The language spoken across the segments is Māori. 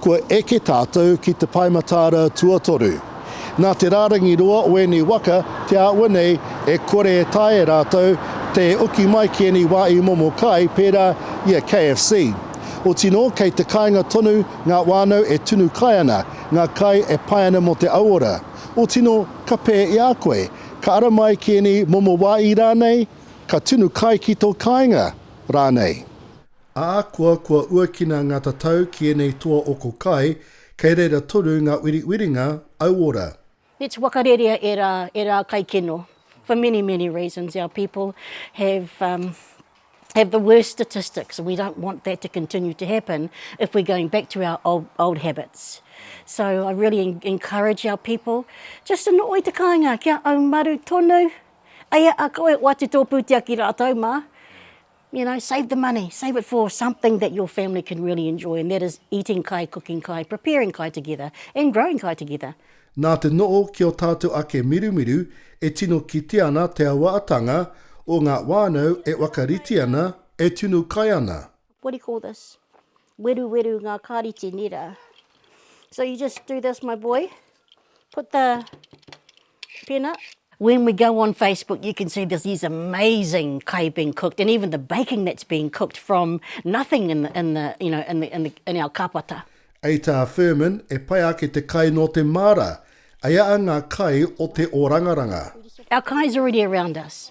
Kua eke tātou ki te Pae Mataara tuatoru. Nā te rārangi roa o ēnei waka te āhua nei e kore e taea e rātou te oki mai ki ēnei wā i momo kai pērā i a KFC. Otinō kei te kāinga tonu ngā whānau e tunu kai ana, ngā kai e pai ana mō te auora. Otinō ka pē i a koe, ka ara mai ki ēnei momo wāī rānei, ka tunu kai ki tō kāinga rānei. Ahakoa kua uakina ngā tatau ki ēnei toa oko kai, kei reira tonu ngā wiriwiringa auora. Let's whakarerea ērā, ērā kaikino. For many, many reasons our people have um have the worst statistics and we don't want that to continue to happen if we're going back to our old old habits. So I really encourage our people just to not wait te kāinga kia aumaru tonu, eia a koe o atu tō pūtea ki rātou mā, You know, save the money, save it for something that your family can really enjoy and that is eating kai, cooking kai, preparing kai together and growing kai together. Nā te noho ki ō tātou ake mirumiru e tino kitea ana te awaatanga o ngā whānau e whakarite ana, e tunu kai ana. What do you call this? weruweru ngā kāreti nē rā. So you just do this my boy, put the pen up. When we go on Facebook you can see there's these amazing kai being cooked and even the baking that's being cooked from nothing in the, in the, you know, in the, in the, in our kapata. Ei tā Firmin, e pai ake te kai nō te māra, ei a ngā kai o te orangaranga. Our kai's already around us.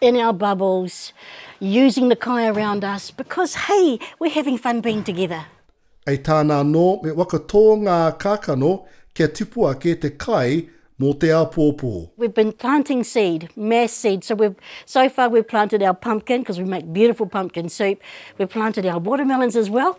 in our bubbles, using the kai around us, because hey, we're having fun being together. Hei tāna anō, me waka tō ngā kākano kia tipu ake te kai mō te āpōpō. We've been planting seed, mass seed, so we've, so far we've planted our pumpkin, because we make beautiful pumpkin soup, we've planted our watermelons as well,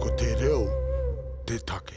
Ko te reo te take.